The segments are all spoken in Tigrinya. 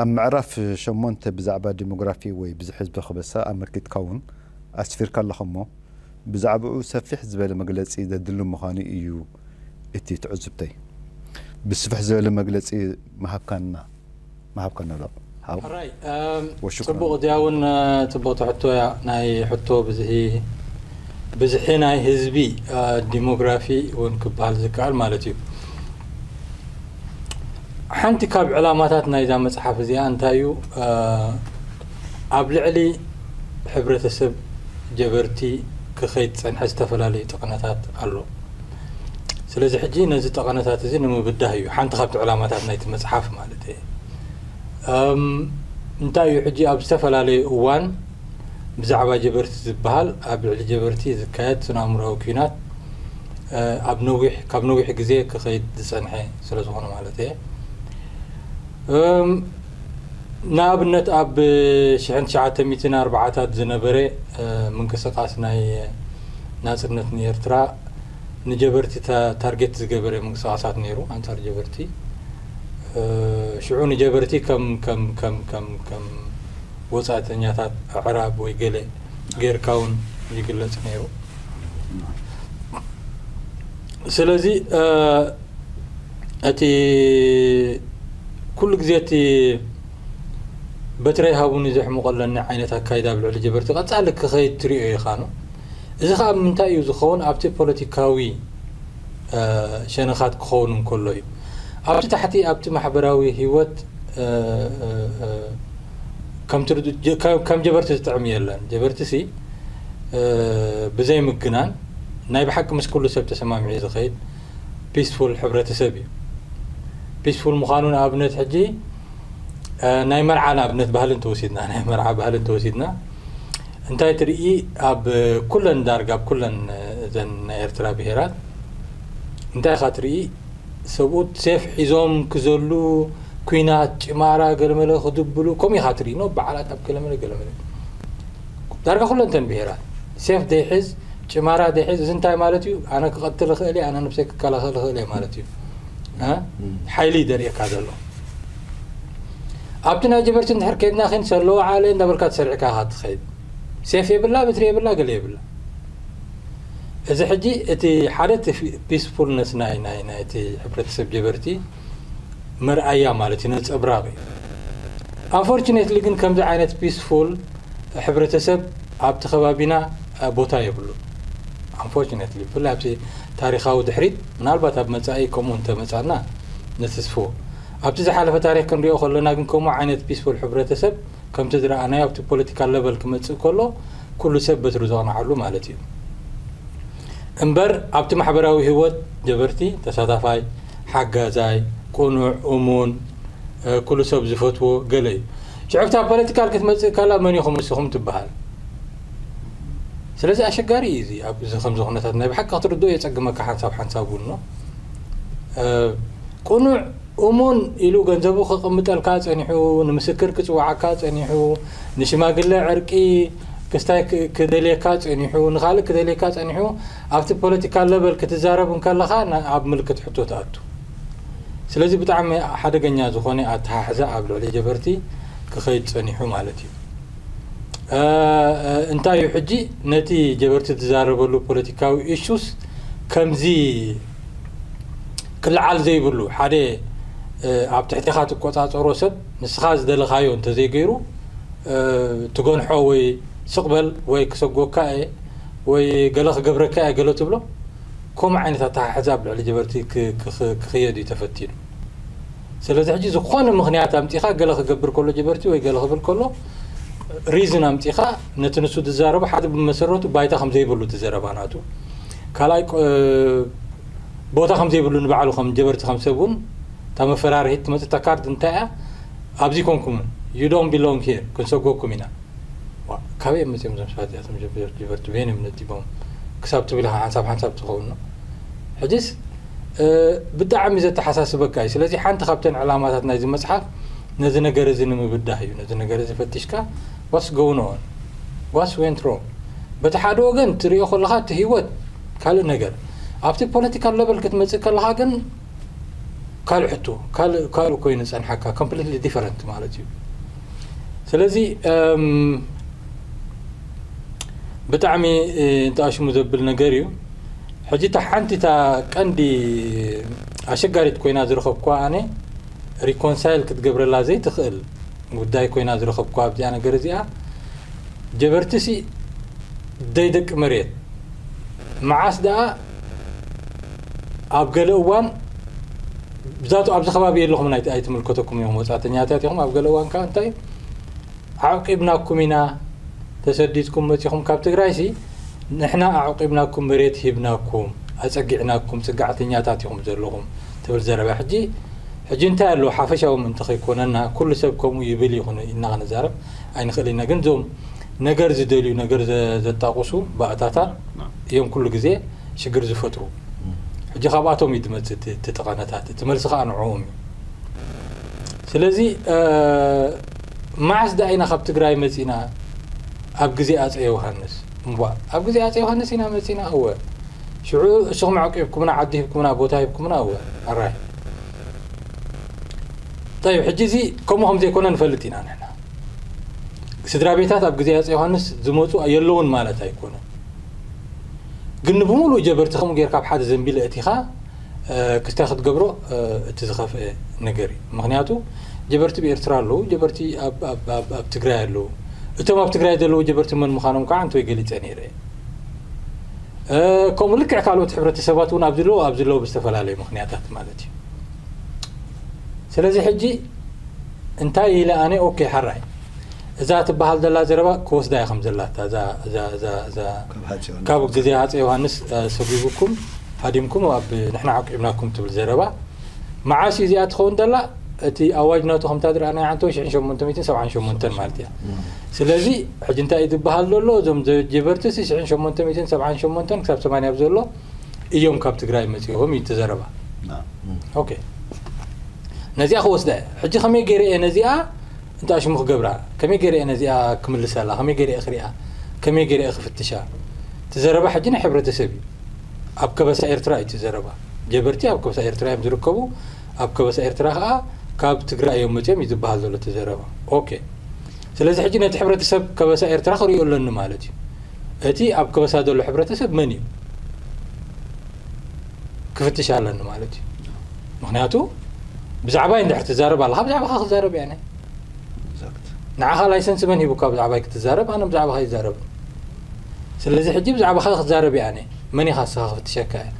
ኣብ ምዕራፍ ሸሞንተ ብዛዕባ ዲሞግራፊ ወይ ብዝሒ ህዝቢ ክበሳ ኣመልኪትካ እውን ኣስፊርካ ኣለኻ እሞ ብዛዕባኡ ሰፊሕ ዝበለ መግለጺ ዘድሊ ምዃኑ ኢዩ እቲ ትዕዝብተይ። ብስፍሕ ዝበለ መግለጺ ምሃብካና ምሃብካና ኣሎ ሓው። ሕራይ ወሽኩራን ጽቡቕ እዚኣ ውን ወሽኩራን። ጽብቕቲ ሕቶ እያ ናይ ሕቶ ብዝሒ ብዝሒ ናይ ህዝቢ ዲሞግራፊ ውን ክብሃል ዝከኣል ማለት እዩ። ሓንቲ ካብ ዕላማታት ናይዛ መጽሓፍ እዚኣ እንታይ እዩ ኣብ ልዕሊ ሕብረተሰብ ጀበርቲ ክኸይድ ዝጸንሐ ዝተፈላለዩ ጠቐነታት ኣሎ። ስለዚ ሕጂ ነዚ ጠቐነታት እዚ ንምብዳህ እዩ ሓንቲ ካብቲ ዕላማታት ናይቲ መጽሓፍ ማለት እየ። እንታይ እዩ ሕጂ ኣብ ዝተፈላለዩ እዋን ብዛዕባ ጀበርቲ ዝበሃል ኣብ ልዕሊ ጀበርቲ ዝካየድ ስነ-ኣእምሮኣዊ ኲናት ኣብ ነዊሕ ካብ ነዊሕ ግዜ ክኸይድ ዝጸንሐ ስለ ዝኾነ ማለት እየ። ንኣብነት ኣብ ሽሕን ትሽዓተ ሚእትን ኣርብዓታት ዝነበረ ምንቅስቓስ ናይ ናጽነት ንኤርትራ ንጀበርቲ ታርጌት ዝገበረ ምንቅስቓሳት ነይሩ ኣንጻር ጀበርቲ ሽዑ ንጀበርቲ ከም ከም ከም ከም ከም ወጻእተኛታት ኣዕራብ ወይ ገለ ጌርካ ውን ይግለጽ ነይሩ። ስለዚ እቲ ኩሉ ግዜ እቲ በትረይ ሃቡኒ ዘሕምቆለኒ ዓይነት ኣካይዳ ኣብ ልዕሊ ጀበርቲ ቀጻሊ ክኸይድ ትሪኦ ኢኻ ን እዚ ኸኣ ብ ምንታይ እዩ ዝኸውን ኣብቲ ፖለቲካዊ ሸነኻት ክኸውን እንከሎ እዩ ኣብቲ ታሕቲ ኣብቲ ማሕበራዊ ሂወት ከም ጀበርቲ ዝጥዕም የለን ጀበርቲ ሲ ብዘይ ምግናን ናይ ብሓቂ ምስ ኩሉ ሰብ ተሰማሚዒ ዝኸይድ ፒስፉል ሕብረተሰብ እዩ ፒስፉል ምዃኑ ንኣብነት ሕጂ ናይ መርዓ ንኣብነት ባህሊ እንተወሲድና ናይ መርዓ ባህሊ እንተወሲድና እንታይ ትርኢ ኣብ ኩለን ዳርጋ ኣብ ኩለን እዘን ናይ ኤርትራ ብሄራት እንታይ ኢኻ ትርኢ ሰብኡት ሴፍ ሒዞም ክዘሉ ኩናት ጭማራ ገለመለ ክድብሉ ከምኡ ኢኻ ትርኢ ን በዓላት ኣብ ገለመለ ገለመለ ዳርጋ ኩለንተን ብሄራት ሴፍ ዘይሕዝ ጭማራ ዘይሕዝ እዚ እንታይ ማለት እዩ ኣነ ክቐትል እኽእል እየ ኣነ ንብሰይ ክከላኸል እኽእል እየ ማለት እዩ ሓይሊ እዩ ደርእየካ ዘሎ ኣብቲ ናይ ጀበርቲ እንድሕር ከይድና ኪን ሰለዋ ዓለ እንዳበልካ ትሰርዕካ ኢኻ ትኸይድ ሴፍ የብላ በትሪ የብላ ገለ የብላ እዚ ሕጂ እቲ ሓደ እቲ ፒስፉልነስ ናይ ናይ ናይቲ ሕብረተሰብ ጀበርቲ መርኣያ ማለት እዩ ነጸብራቕ እዩ ኣፎርቹኔትሊ ግን ከምዚ ዓይነት ፒስፉል ሕብረተሰብ ኣብቲ ከባቢና ቦታ የብሉ ኣንፎርቹኔትሊ ብፍላይ ኣብቲ ታሪኻዊ ድሕሪት ምናልባት ኣብ መጻኢ ከምኡ እንተመጻና ንትስፉ ኣብቲ ዝሓለፈ ታሪክ ክንሪኦ ከሎና ግን ከምኡ ዓይነት ፒስፉል ሕብረተሰብ ከምቲ ዝረኣናዮ ኣብቲ ፖለቲካል ለቨል ክመጽእ ከሎ ኩሉ ሰብ በትሩ ዘቕንዓሉ ማለት እዩ እምበር ኣብቲ ማሕበራዊ ህይወት ጀበርቲ ተሳታፋይ፣ ሓጋዛይ፣ ቅኑዕ፣ እሙን፣ ኩሉ ሰብ ዝፈትዎ ገለ እዩ። ሽዑ ኣብታ ፖለቲካል ክትመጽእ ከላ መን ኢኹም ንስኹም ትበሃል። ስለዚ ኣሸጋሪ እዩ እዚ ኣብዚ ከምዚ ኩነታት ናይ ብሓቂ ክትርድኦ የጸግመካ ሓንሳብ ሓንሳብ እውን ቅኑዕ እሙን ኢሉ ገንዘቡ ከቀምጠልካ ጸኒሑ ንምስክር ክጽውዓካ ጸኒሑ ንሽማግለ ዕርቂ ክስታይ ክደልየካ ጸኒሑ ንኻልእ ክደልየካ ጸኒሑ ኣብቲ ፖለቲካል ለቨል ክትዛረብ እንከለኻ ኣብ ምልክት ሕቶ ትኣቱ ስለዚ ብጣዕሚ ሓደገኛ ዝኾነ ኣተሓሕዛ ኣብ ልዕሊ ጀበርቲ ክኸይድ ጸኒሑ ማለት እዩ እንታይ እዩ ሕጂ ነቲ ጀበርቲ ዝዛረበሉ ፖለቲካዊ ኢሹስ ከምዚ ክልዓል ዘይብሉ ሓደ ኣብ ትሕቴኻ ትቆጻጸሮ ሰብ ንስኻ ዝደለኻዮ እንተዘይገይሩ ትገንሖ ወይ ስቕ በል ወይ ክሰጎካ እየ ወይ ገለ ክገብረካ እየ ገለ ትብሎ ከምኡ ዓይነት ኣተሓሕዛ ኣብ ልዕሊ ጀበርቲ ክኽየድ እዩ ተፈቲኑ ስለዚ ሕጂ ዝኾነ ምኽንያት ኣምጺኻ ገለ ክገብር ከሎ ጀበርቲ ወይ ገለ ክብል ከሎ ሪዝን ኣምጺኻ ነቲ ንሱ ዝዛረቦ ሓደ ብመሰረቱ ባይታ ከም ዘይብሉ እቲ ዘረባ ናቱ ካልኣይ ቦታ ከም ዘይብሉ ንባዕሉ ከም ጀበርቲ ከም ሰብ እውን እታ መፈራርሂት ትመፅእ እታ ካርድ እንታይ እያ ኣብዚ ኮንኩምን ዩ ዶን ቢሎንግ ሂር ክንሰጎኩም ኢና ካበይ እዮም መፅኦም እዞም ሰባት እዚኣቶም ጀበርቲ በየን እዮም ነዲቦም ክሳብ ትብል ኢኻ ሓንሳብ ሓንሳብ ትኸውን ሕጂስ ብጣዕሚ ዘተሓሳስበካ እዩ ስለዚ ሓንቲ ካብተን ዕላማታት ናይዚ መፅሓፍ ነዚ ነገር እዚ ንምብዳህ እዩ ነዚ ነገር እዚ ፈቲሽካ ዋትስ ጎውን ኦን ዋትስ ዌንት ሮንግ በቲ ሓደ ወገን ትሪኦ ከለኻ እቲ ሂወት ካልእ ነገር ኣብቲ ፖለቲካል ለቨል ክትመጽእ ከለኻ ግን ካልእ ሕቶ ካልእ ካልእ ኮይኑ ዝጸንሓካ ኮምፕሊትሊ ዲፈረንት ማለት እዩ ስለዚ ብጣዕሚ እንተኣሽሙ ዘብል ነገር እዩ ሕጂ እታ ሓንቲ እታ ቀንዲ ኣሸጋሪት ኮይና ዝረኸብኩዋ ኣነ ሪኮንሳይል ክትገብረላ ዘይትኽእል ጉዳይ ኮይና ዝረከብኩዋ ኣብዚኣ ነገር እዚኣ ጀበርቲ ሲ ደይ ደቂ መሬት መዓስ ደኣ ኣብ ገለ እዋን ብዛቱ ኣብዚ ከባቢ የለኹምን ኣይትምልከተኩም እዮም ወጻእተኛታት ኢኹም ኣብ ገለ እዋን ከኣ እንታይ ኣዕቂብናኩም ኢና ተሰዲድኩም መጺኹም ካብ ትግራይ ሲ ንሕና ኣዕቂብናኩም መሬት ሂብናኩም ኣጸጊዕናኩም ጽግዕተኛታት ኢኹም ዘለኹም ትብል ዘረባ ሕጂ ሕጂ እንታይ ኣሎ ሓፈሻዊ ምእንቲ ከይኮነና ኩሉ ሰብ ከምኡ ይብል ይኹን ኢልና ክንዛረብ ኣይንኽእል ኢና ግን እዞም ነገር ዝደልዩ ነገር ዘጣቁሱ ባእታታ እዮም ኩሉ ግዜ ሽግር ዝፈጥሩ ሕጂ ካብኣቶም እዩ ዝመጽእ እቲ እቲ ጠቐነታት እቲ መልሲ ከኣ ንዕኦም እዩ ስለዚ መዓስ ደኣ ኢና ካብ ትግራይ መጺና ኣብ ግዜ ኣጼ ዮሃንስ እምቧእ ኣብ ግዜ ኣጼ ዮሃንስ ኢና መጺና እወ ሽዑ እስኹም ዓቂብኩምና ዓዲ ሂብኩምና ቦታ ሂብኩምና እወ ኣራይ طيب ሕጂ እዚ ከምኡ ከም ዘይኮነ ንፈልጥ ኢና ንሕና ስድራ ቤታት ኣብ ግዜ ኣፄ ዮሃንስ ዝመፁ የለውን ማለት ኣይኮነ ግን ንብምሉእ ጀበርቲ ከምኡ ጌርካ ኣብ ሓደ ዘንቢል እእቲኻ ክስታይ ክትገብሮ እቲ ዝኸፍአ ነገር እዩ ምክንያቱ ጀበርቲ ብኤርትራ ኣለዉ ጀበርቲ ኣብ ትግራይ ኣለዉ እቶም ኣብ ትግራይ ዘለዉ ጀበርቲ መን ምዃኖም ከዓ እንተወይ ገሊፀ ነይረ ከምኡ ልክዕ ካልኦት ሕብረተሰባት እውን ኣብዚ ኣለዎ ኣብዚ ኣለዎ ብዝተፈላለዩ ምክንያታት ማለት እዩ ስለዚ ሕጂ እንታይ ኢለ ኣነ ኦኬ ሓራይ እዛ ትበሃል ዘላ ዘረባ ክወስዳ እየ ከም ዘላታ ካብ ግዜ ሃፀ ዮሃንስ ሰጒጉኩም ሃዲምኩም ኣብ ንሕና ዓቂብናኩም ትብል ዘረባ መዓስ እዩ እዚኣ ትኸውን ዘላ እቲ ኣዋጅ ናቱ ከምታ ዝረኣናዮ ዓንተቦ ሽሕን ሸሞንተ ሚእትን ሰብዓን ሸሞንተን ማለት እያ። ስለዚ ሕጂ እንታይ እዩ ዝበሃል ዘሎ እዞም ጀበርትሲ ሽሕን ሸሞንተ ሚእትን ሰብዓን ሸሞንተን ክሳብ ሰማንያ ኣብ ዘሎ እዮም ካብ ትግራይ መጺኦም እዩ እቲ ዘረባ። ኦኬ ነዚኣ ክወስዳ እየ ሕጂ ከመይ ገይረ እየ ነዚኣ እንተ ኣሽሙ ክገብራ ከመይ ገይረ እየ ነዚኣ ክምልሰላ ከመይ ገይረ እየ ክሪኣ ከመይ ገይረ እየ ክፍትሻ እቲ ዘረባ ሕጂ ናይ ሕብረተሰብ እዩ ኣብ ከበሳ ኤርትራ እዩ እቲ ዘረባ ጀበርቲ ኣብ ከበሳ ኤርትራ እዮም ዝርከቡ ኣብ ከበሳ ኤርትራ ከኣ ካብ ትግራይ እዮም መጽዮም እዩ ዝብሃል ዘሎ እቲ ዘረባ ok ስለዚ ሕጂ ነቲ ሕብረተሰብ ከበሳ ኤርትራ ክርእዮ ኣለኒ ማለት እዩ እቲ ኣብ ከበሳ ዘሎ ሕብረተሰብ መን እዩ ክፍትሽ ኣለኒ ማለት እዩ ምክንያቱ ብዛዕባይ እንድሕር ትዛረብ ኣለካ ብዛዕባካ ክዛረብ እያ ንዓኻ ላይሰንስ መን ሂቡካ ብዛዕባይ ክትዛረብ ኣነ ብዛዕባካ ይዛረብ ስለዚ ሕጂ ብዛዕባካ ክዛረብ እያ መን ኢኻ እስኻ ክፍትሸካ እየ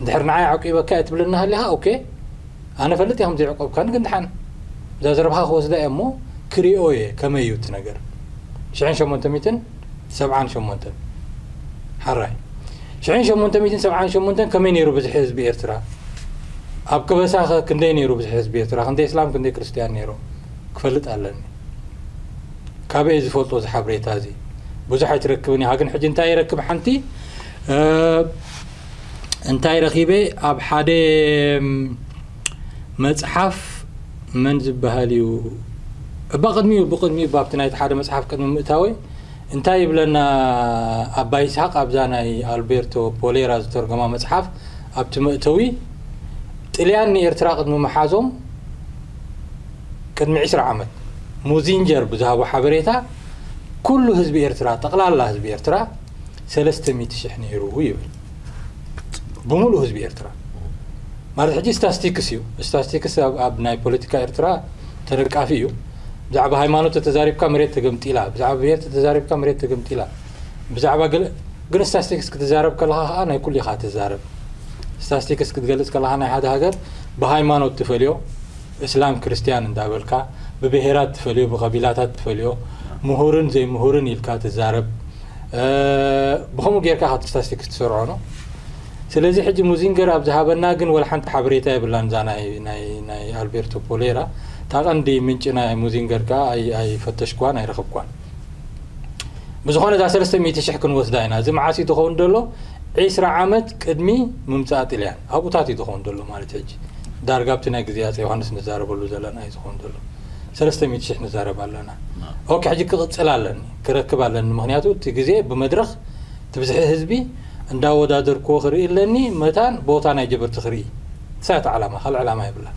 እንድሕር ንዓይ ኣዕቂበካ እየ ትብለኒ ሃሊኻ ኦኬ ኣነ እፈልጥ እየ ከምዘይዕቆብካኒ ግን ድሓን እዛ ዘረባኻ ክወስዳ እየ እሞ ክሪኦ እየ ከመይ እዩ እቲ ነገር ሽሕን ሸሞንተ ሚእትን ሰብዓን ሸሞንተን ሓራይ ሽሕን ሸሞንተ ሚእትን ሰብዓን ሸሞንተን ከመይ ነይሩ ብዝሒ ህዝቢ ኤርትራ ኣብ ከበሳ ከ ክንደይ ነይሩ ብዝሒ ህዝቢ ኤርትራ ክንደይ እስላም ክንደይ ክርስትያን ነይሩ ክፈልጥ ኣለኒ ካበይ እየ ዝፈልጦ እዚ ሓብሬታ እዚ ብዙሕ ኣይትረክብን ኢኻ ግን ሕጂ እንታይ ይረክብ ሓንቲ እንታይ ረኺበ ኣብ ሓደ መፅሓፍ መን ዝበሃል እዩ እባ ቅድሚኡ ብቅድሚኡ ባብቲ ናይቲ ሓደ መፅሓፍ ቅድሚ ምእታወይ እንታይ ይብለና ኣባ ይስሓቅ ኣብዛ ናይ ኣልቤርቶ ፖሌራ ዝተርጎማ መፅሓፍ ኣብቲ መእተዊ ጥልያን ንኤርትራ ቅድሚ መሓዞም ቅድሚ ዕስራ ዓመት ሙዚንጀር ብዝሃቦ ሓበሬታ ኩሉ ህዝቢ ኤርትራ ጠቕላላ ህዝቢ ኤርትራ ሰለስተ ሚእቲ ሽሕ ነይሩ ይብል። ብምሉእ ህዝቢ ኤርትራ ማለት ሕጂ ስታስቲክስ እዩ። ስታስቲክስ ኣብ ናይ ፖለቲካ ኤርትራ ተነቃፊ እዩ። ብዛዕባ ሃይማኖት ተተዛሪብካ መሬት ተገምጢላ፣ ብዛዕባ ብሄር ተተዛሪብካ መሬት ተገምጢላ፣ ብዛዕባ ገለ ግን ስታስቲክስ ክትዛረብ ከለኻ ከኣ ናይ ኩሉ ኢኻ ትዛረብ። ስታስቲክስ ክትገልጽ ከለኻ ናይ ሓደ ሃገር ብሃይማኖት ትፈልዮ፣ እስላም ክርስትያን እንዳበልካ ብብሄራት ትፈልዮ ብቀቢላታት ትፈልዮ ምሁርን ዘይምሁርን ኢልካ ትዛረብ ብከምኡ ጌርካ ካብቲ ስታስቲክስ ትሰርዖ ን ስለዚ ሕጂ ሙዚንገር ኣብ ዝሃበና ግን ወላ ሓንቲ ሓበሬታ የብላን እዛ ናይ ናይ ናይ ኣልቤርቶ ፖሌራ እታ ቀንዲ ምንጪ ናይ ሙዚንገር ከኣ ኣይ ኣይፈተሽክዋን ኣይረከብክዋን ብዝኾነ እዛ ሰለስተ ሚእቲ ሽሕ ክንወስዳ ኢና። እዚ መዓስ እዩ ዝኸውን ዘሎ? ዒስራ ዓመት ቅድሚ ምምጻእ ጥልያን ኣብኡታት እዩ ዝኸውን ዘሎ ማለት ሕጂ ዳርጋ ኣብቲ ናይ ግዜ ኣጼ ዮሃንስ ንዛረበሉ ዘለና እዩ ዝኸውን ዘሎ። ሰለስተ ሚእቲ ሽሕ ንዛረብ ኣለና። ኦኬ ሕጂ ክቕጽል ኣለኒ ክረክብ ኣለኒ ምኽንያቱ እቲ ግዜ ብመድረኽ እቲ ብዝሒ ህዝቢ እንዳወዳደርክዎ ክርኢ ኣለኒ መታን ቦታ ናይ ጀበርቲ ክርኢ። ንሳ እያ እቲ ዓላማ ካልእ ዕላማ የብላን።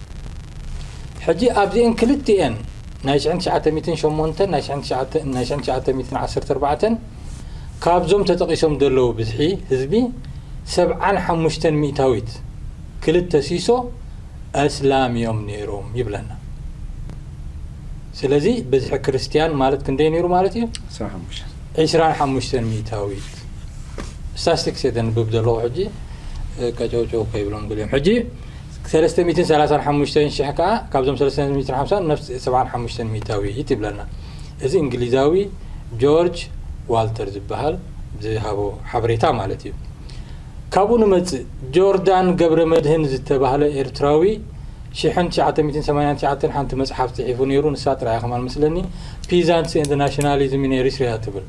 ሕጂ ኣብዚኤን ክልቲኤን ናይ ሽሕን ትሽዓተ ሚእትን ሸሞንተን ናይ ሽሕን ትሽዓተ ሚእትን ዓሰርተ ኣርባዕተን ካብዞም ተጠቒሶም ዘለዉ ብዝሒ ህዝቢ ሰብዓን ሓሙሽተን ሚእታዊት ክልተ ሲሶ ኣስላም ኢዮም ነይሮም ይብለና። ስለዚ ብዝሒ ክርስትያን ማለት ክንደይ ነይሩ ማለት ኢዩ? ዕስራን ሓሙሽተን ሚእታዊት። ስታስቲክስ እየ ዘንብብ ዘለኹ ሕጂ ቀጨውጨው ከይብሎም ገሊኦም ሕጂ ሰለስተ ሚእትን ሰላሳን ሓሙሽተን ሽሕ ከኣ ካብዞም ሰለስተ ሚእትን ሓምሳን ነፍስ ሰብዓን ሓሙሽተን ሚእታዊት ይብለና። እዚ እንግሊዛዊ ጆርጅ ዋልተር ዝበሃል ዝሃቦ ሓበሬታ ማለት እዩ። ካብኡ ንመጽእ ጆርዳን ገብረመድህን ዝተባህለ ኤርትራዊ ሽሕን ትሽዓተ ሚእትን ሰማንያን ትሽዓተን ሓንቲ መጽሓፍ ጽሒፉ ነይሩ ንሳ ጥራይ እያ ከማን መስለኒ ፒዛንትስ ኤንድ ናሽናሊዝም ኢን ኤሪትሪያ ትብል።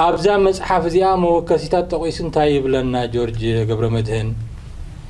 ኣብዛ መጽሓፍ እዚኣ መወከሲታት ጠቒሱ እንታይ ይብለና ጆርጅ ገብረመድህን?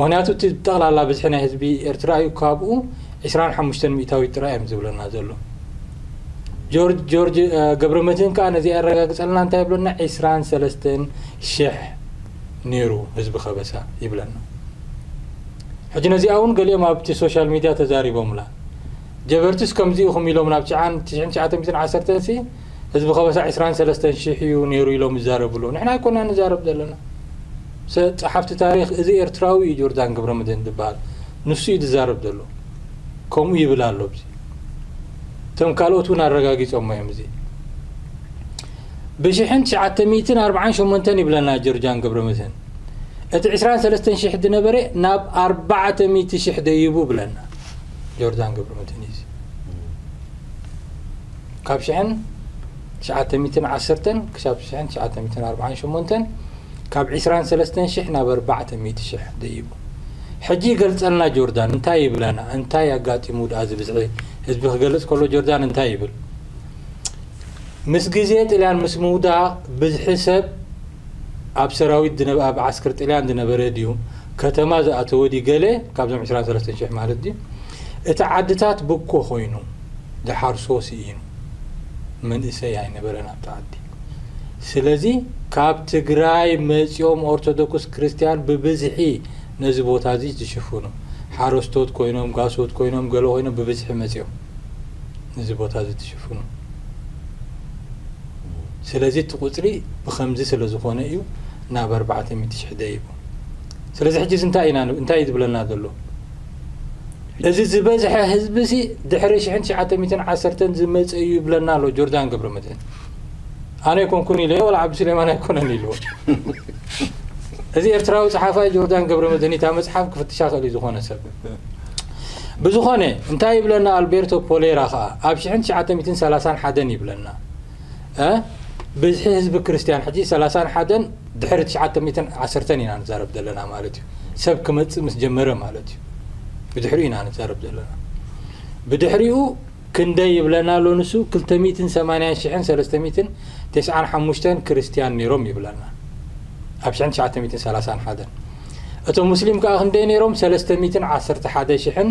ምክንያቱ እቲ ጠቅላላ ብዝሒ ናይ ህዝቢ ኤርትራ እዩ ካብኡ ዕስራን ሓሙሽተን ሚእታዊት ጥራይ እዮም ዝብለና ዘሎ ጆርጅ ጆርጅ ገብረመድህን ከኣ ነዚ ኣረጋግጸልና እንታይ ይብለና ዕስራን ሰለስተን ሽሕ ነይሩ ህዝቢ ከበሳ ይብለና ሕጂ ነዚኣ እውን ገሊኦም ኣብቲ ሶሻል ሚድያ ተዛሪቦምላ ጀበርትስ ከምዚ ኢኹም ኢሎም ናብ ትሽዓን ትሽዓን ትሽዓተ ሚእትን ዓሰርተን ሲ ህዝቢ ከበሳ ዕስራን ሰለስተን ሽሕ እዩ ነይሩ ኢሎም ይዛረቡ ኣለዉ ንሕና ኣይኮናን ንዛረብ ዘለና ሰ ጸሓፍቲ ታሪኽ እዚ ኤርትራዊ እዩ ጆርዳን ገብረመድህን ዝብሃል ንሱ እዩ ዝዛረብ ዘሎ ከምኡ ይብል ኣሎ ኣብዚ እቶም ካልኦት እውን ኣረጋጊጾሞ እዮም እዚ ብሽሕን ትሽዓተ ሚእትን ኣርብዓን ሸሞንተን ይብለና ጆርጃን ገብረመድህን እቲ ዕስራን ሰለስተን ሽሕ ዝነበረ ናብ ኣርባዕተ ሚእቲ ሽሕ ደይቡ ብለና ጆርዳን ገብረመድህን እዩ ካብ ሽሕን ትሽዓተ ሚእትን ዓሰርተን ክሳብ ሽሕን ትሽዓተ ሚእትን ኣርብዓን ሸሞንተን ካብ ዕስራን ሰለስተን ሽሕ ናብ ኣርባዕተ ሚእቲ ሽሕ ደይቡ። ሕጂ ገልጸልና ጆርዳን እንታይ ይብለና እንታይ ኣጋጢሙ ድኣ እዚ ብዝሒ ህዝቢ ክገልጽ ከሎ ጆርዳን እንታይ ይብል ምስ ግዜ ጥልያን ምስ ምውዳቕ ብዝሒ ሰብ ኣብ ሰራዊት ድነ ኣብ ዓስክር ጥልያን ድነበረ ድዩ ከተማ ዝኣተወ ድዩ ገለ ካብዞም ዕስራን ሰለስተን ሽሕ ማለት ድዩ እቲ ዓድታት ብኮ ኮይኑ ዝሓርሶ ሲኢኑ መንእሰይ ኣይነበረን ኣብቲ ዓዲ ስለዚ ካብ ትግራይ መጽዮም ኦርቶዶክስ ክርስትያን ብብዝሒ ነዚ ቦታ እዚ ዝሽፍኑ ሓረስቶት ኮይኖም ጋሶት ኮይኖም ገለ ኮይኖም ብብዝሒ መጽዮም ነዚ ቦታ እዚ ዝሽፍኑ ስለዚ እቲ ቁጽሪ ብከምዚ ስለ ዝኾነ እዩ ናብ ኣርባዕተ ሚእቲ ሽሕ ደይቡ ስለዚ ሕጂ እዚ እንታይ ኢና እንታይ እዩ ዝብለና ዘሎ እዚ ዝበዝሐ ህዝቢሲ ድሕሪ ሽሕን ትሽዓተ ሚእትን ዓሰርተን ዝመፀ እዩ ይብለና ኣሎ ጆርዳን ገብረመድህን ኣነ ኣይኮንኩን ኢለ ወላ ዓብዲ ስሌማን ኣይኮነን ኢልዎ እዚ ኤርትራዊ ፀሓፋይ ጆርዳን ገብረ መድህን እታ መፅሓፍ ክፍትሻ ክእል እዩ ዝኾነ ሰብ ብዝኾነ እንታይ ይብለና ኣልቤርቶ ፖሌራ ከዓ ኣብ 1931 ይብለና እ ብዝሒ ህዝቢ ክርስትያን ሕጂ ሰላሳን ሓደን ድሕሪ ትሽዓተ ሚእትን ዓሰርተን ኢና ንዛረብ ዘለና ማለት እዩ ሰብ ክመጽእ ምስ ጀመረ ማለት እዩ ብድሕሪኡ ኢና ንዛረብ ዘለና ብድሕሪኡ ክንደይ ይብለና ኣሎ ንሱ ክልተ ሚእትን ሰማንያን ሽሕን ሰለስተ ሚእትን ተስዓን ሓሙሽተን ክርስትያን ነይሮም ይብለና ኣብ ሽሕን ትሽዓተ ሚእትን ሰላሳን ሓደን እቶም ሙስሊም ከዓ ክንደይ ነይሮም ሰለስተ ሚእትን ዓሰርተ ሓደ ሽሕን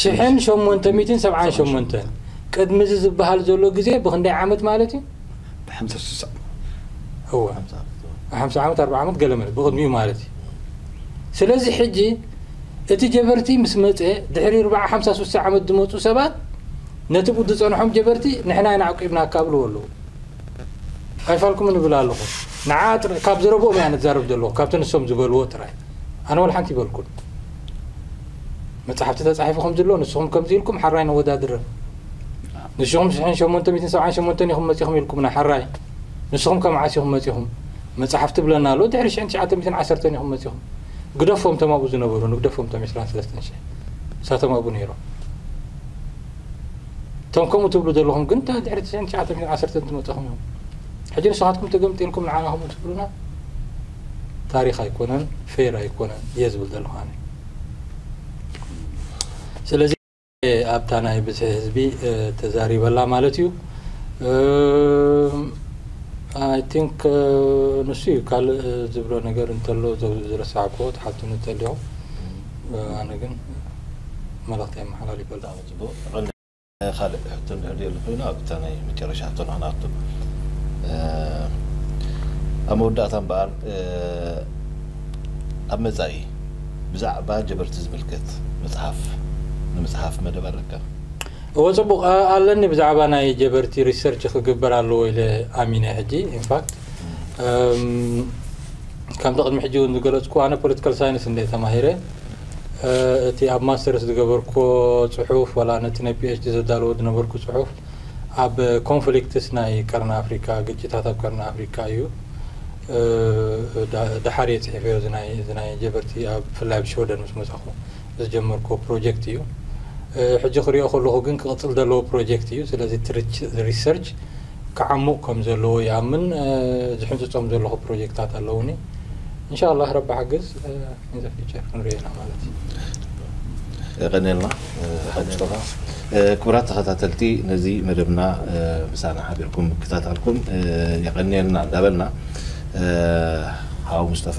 ሽሕን ሸሞንተ ሚእትን ሰብዓን ሸሞንተን ቅድሚ እዚ ዝበሃል ዘሎ ግዜ ብክንደይ ዓመት ማለት እዩ? ብሓምሳ ስሳ እወ ሓምሳ ዓመት ኣርባ ዓመት ገለ መለ ብቅድሚኡ ማለት እዩ። ስለዚ ሕጂ እቲ ጀበርቲ ምስ መጸ ድሕሪ ርብዓ ሓምሳ ስሳ ዓመት ዝመጹ ሰባት ነቲ ብ ዝጸንሖም ጀበርቲ ንሕና ኢና ኣዕቂብናካ ብልዎ ኣለዉ። ኣይፋልኩምን እብል ኣለኹ ንዓ ጥራይ ካብ ዝረብኦም እያ ንዛረብ ዘለኹ ካብቲ ንሶም ዝበልዎ ጥራይ ኣነ ወላ ሓንቲ ይበልኩን መጽሓፍቲ ተጻሒፉ ከም ዝሎ ንስኹም ከምዚ ኢልኩም ሓራይ ነወዳድረ ንስኹም ሽሕን ሸሞንተ ሚትን ሰብዓን ሸሞንተን ኢኹም መጺኹም ኢልኩምና ሓራይ ንስኹም ከም ዓስ ኢኹም መጺኹም መጽሓፍቲ ብለና ኣሎ ድሕሪ ሽሕን ትሽዓተ ሚትን ዓሰርተን ኢኹም መጺኹም ግደፎም ተማብኡ ዝነበሩ ንግደፎም ቶም ዕስራን ሰለስተን ሽሕ ንሳቶም ኣብኡ ነይሮም እቶም ከምኡ ትብሉ ዘለኹም ግን ድሕሪ ትሽዓን ትሽዓተን ዓሰርተን ትመፀኹም እዮም ሕጂ ንስኻትኩም ተገምጢልኩም ንዓና ከምኡ ትብሉና ታሪክ ኣይኮነን ፌር ኣይኮነን እየ ዝብል ዘለኹ ኣነ ስለዚ ኣብታ ናይ ብዝሒ ህዝቢ ተዛሪበላ ማለት እዩ ኣይ ቲንክ ንሱ እዩ ካልእ ዝብሎ ነገር እንተሎ ዝረሳዕክዎ ትሓቱኒ ተሊኹም ኣነ ግን መልእኽተይ ኣመሓላሊፈ ኣለኹ። ብጣዕሚ ጽቡቅ ቀንዲ ካልእ ሕቶ እንድሕር ድየሉ ኮይኑ ኣብታ ናይ መጨረሻ ሕቶ ንክንኣቱ ኣብ መወዳእታ እምበኣር ኣብ መጻኢ ብዛዕባ ጀበርቲ ዝምልከት መጽሓፍ ንምጽሓፍ መደብ ኣለካ? እወ ጽቡቅ ኣለኒ ብዛዕባ ናይ ጀበርቲ ሪሰርች ክግበር ኣለዎ ኢለ ኣሚነ ሕጂ ኢንፋክት ከምቲ ቅድሚ ሕጂ እውን ዝገለፅኩ ኣነ ፖለቲካል ሳይንስ እንደ ተማሂረ እቲ ኣብ ማስተርስ ዝገበርኩ ፅሑፍ ዋላ ነቲ ናይ ፒኤችዲ ዘዳለዎ ዝነበርኩ ፅሑፍ ኣብ ኮንፍሊክትስ ናይ ቀርኒ ኣፍሪካ ግጭታት ኣብ ቀርኒ ኣፍሪካ እዩ ደሓር እየ ፅሒፈዮ ናይ ጀበርቲ ብፍላይ ኣብ ሽወደን ምስ መፃኹ ዝጀመርኩ ፕሮጀክት እዩ ሕጂ ክሪኦ ከለኹ ግን ክቕፅል ዘለዎ ፕሮጀክት እዩ ስለዚ ሪሰርች ክዓሙቕ ከም ዘለዎ ይኣምን ዝሕንጽጾም ዘለኹ ፕሮጀክታት ኣለዉኒ እንሻላህ ረቢ ሓግዝ ኢን ዘ ፊቸር ክንሪኦ ኢና ማለት እዩ የቀንየልና ሓጅቶኻ ክቡራት ተኸታተልቲ ነዚ መደብና ምሳና ሓቢርኩም ምክታታልኩም የቐንየልና እንዳበልና ሓው ሙስጠፋ